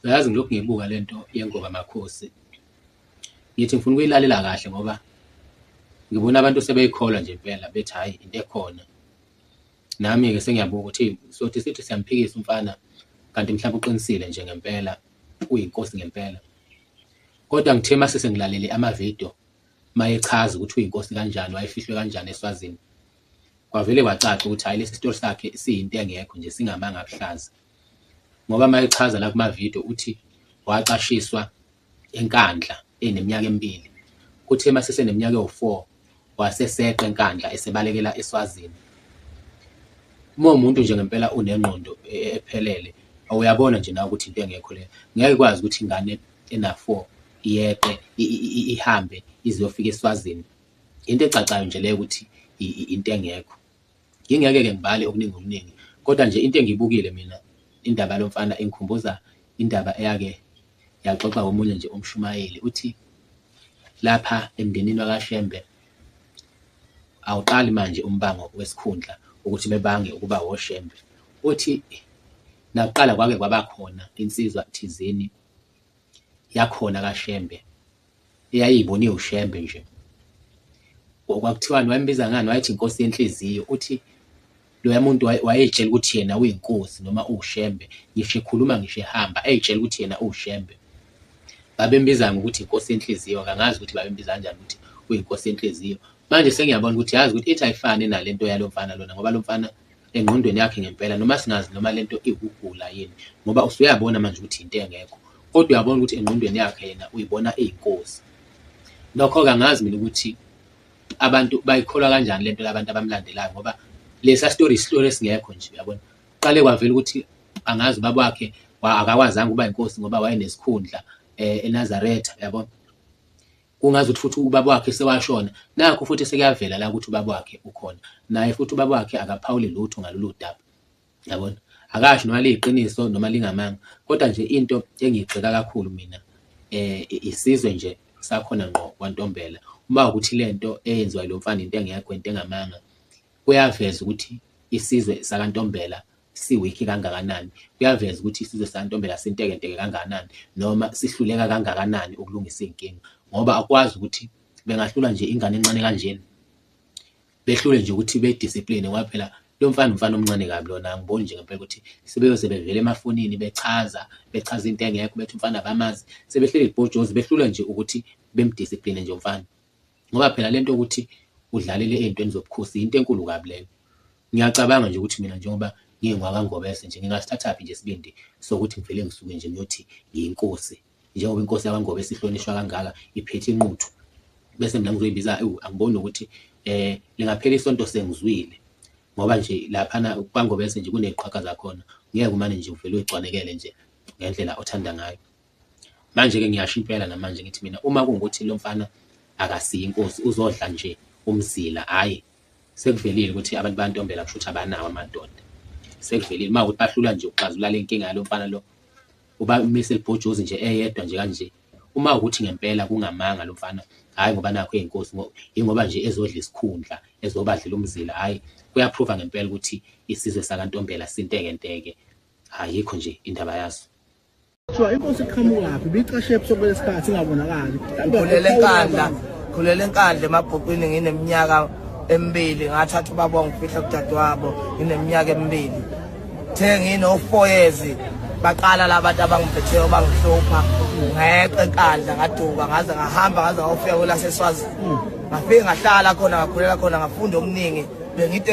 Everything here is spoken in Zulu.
Uyazi ngilokhu ngiyibuka le nto yengoma Makhosi, ngithi ngifuna ukuyilalela kahle ngoba ngibona abantu sebeyikholwa nje impela bethi hhayi into ekhona. Nami-ke sengiyabuka ukuthi sothi sithi siyamphikisa umfana kanti mhlawumbe uqinisile nje ngempela, uyinkosi ngempela. Kodwa ngithe uma sengilalele ama-video uma echaza ukuthi uyinkosi kanjani, wayefihlwe kanjani eSwazini, kwavele kwacaca ukuthi hhayi lesi sitori sakhe siyinto engekho nje, singamanga abuhlaza. ngoba uma echaza la kumavidiyo uthi wacashiswa enkandla eneminyaka emibili kuthe uma seseneminyaka ewu-four waseseqa enkandla esebalekela eswazini uma umuntu nje ngempela unengqondo e, e, ephelele awuyabona nje nawe ukuthi into engekho le ngeke ikwazi ukuthi ingane ena-four iyeqe ihambe iziyofika eswazini into ecacayo nje leyo ukuthi into engekho Ngingeke-ke ngibale okuningi okuningi kodwa nje into engiyibukile mina indaba yalo mfana ingikhumbuza indaba eyake yaxoxwa omunye nje umshumayeli uthi lapha emndenini wakaShembe awuqali manje umbango wesikhundla ukuthi bebange ukuba woShembe. Uthi nakuqala kwake kwaba khona insizwa thizeni yakhona kaShembe. eyayibone uShembe nje. Kwakuthiwani wayembiza ngani wayethi inkosi yenhliziyo uthi loya muntu wayeyitshela ukuthi yena uyinkosi noma uwushembe ngisho ekhuluma ngisho ehamba eyitshela ukuthi yena uwushembe babembiza ngokuthi inkosi yenhliziyo kangazi ukuthi babembiza kanjani ukuthi uyinkosi yenhliziyo manje sengiyabona ukuthi yazi ukuthi ithi ayifani nalento yalo mfana lona ngoba lo mfana engqondweni yakhe ngempela noma singazi noma lento iwukugula yini ngoba usuyabona manje ukuthi into engekho kodwa uyabona ukuthi engqondweni yakhe yena uyibona eyinkosi nokho-ke angazi mina ukuthi abantu bayikholwa kanjani lento labantu abamlandelayo ngoba lesa story isihlolo esingekho nje uyabona qale kwavela ukuthi angazi ubaba wakhe akakwazanga ukuba inkosi ngoba wayenesikhundla eh, eNazaretha uyabona Kungazi ukuthi futhi ubaba wakhe sewashona. Nakhu futhi sekuyavela la ukuthi ubaba wakhe ukhona. Naye futhi ubaba wakhe akaphawuli lutho ngalolu daba. Yabona? Akasho noma liyiqiniso noma lingamanga. Kodwa nje into engiyigxeka kakhulu mina eh isizwe nje sakhona ngqo kwaNtombela. Uma ukuthi lento eyenziwa lo mfana into engekho into engamanga kuyaveza ukuthi isizwe sakaNtombela siwikhi kangakanani kuyaveza ukuthi isizwe santombela sintekenteke kangakanani noma sihluleka kangakanani ukulungisa iy'nkinga ngoba akwazi ukuthi bengahlula nje ingane encane kanjena behlule nje ukuthi bediscipline ngoba phela lo mfana umfana omncane kabi lona angiboni nje ngempela ukuthi sebeyoze bevele emafonini bechaza bechaza into engekho bethi umfana abamazi sebehleli ibhojozi behlule nje ukuthi bemdiscipline nje umfana. Ngoba phela lento ukuthi udlalele ey'ntweni zobukhosi yinto enkulu kabi lena. Ngiyacabanga nje ukuthi mina njengoba ngingwakwaNgobese nje ngingasithathaphi nje isibindi sokuthi ngivele ngisuke nje ngiyothi ngiyinkosi. Njengoba inkosi yakwaNgobese ihlonishwa kangaka iphethe inquthu. Bese mina ngizoyibiza ewu angiboni nokuthi um lingaphela isonto sengizwile. Ngoba nje laphana kwaNgobese nje kuney'qhwaga zakhona, ngeke umane nje uvele uyigcwanekele nje ngendlela othanda ngayo. Manje-ke ngiyasho impela namanje ngithi mina uma kungukuthi lo mfana akasiye inkosi uzodla nje umzila hhayi sekuvelile ukuthi abantu bayantombela kusho ukuthi abanawo amadoda sekuvelile uma ukuthi bahlula nje ukuxazulula le nkinga yalo mfana lo uba umise libhojozi nje eyedwa nje kanje uma ukuthi ngempela kungamanga lo mfana hhayi ngoba nakho eyinkosi yingoba nje ezodla isikhundla ezobadlela umzila hhayi kuyaphruva ngempela ukuthi isizwe sakantombela sinteke nteke ayikho nje indaba yaso Kuthiwa inkosi iqhamukaphi ibicashe ebusuku lesikhathi ingabonakali. Khulele enkandla, khulele enkandla emabhukwini ngineminyaka emibili ngathatha ubaba wangifihla kudadewabo ngineminyaka emibili. Kuthe nginofoyezi baqala labantu abangiphetheyo bangihlupha ngeqe enkandla ngaduka ngaze ngahamba ngaze ngawufika kwelaseswazini ngafike ngahlala khona ngakhulela khona ngafunda okuningi bengide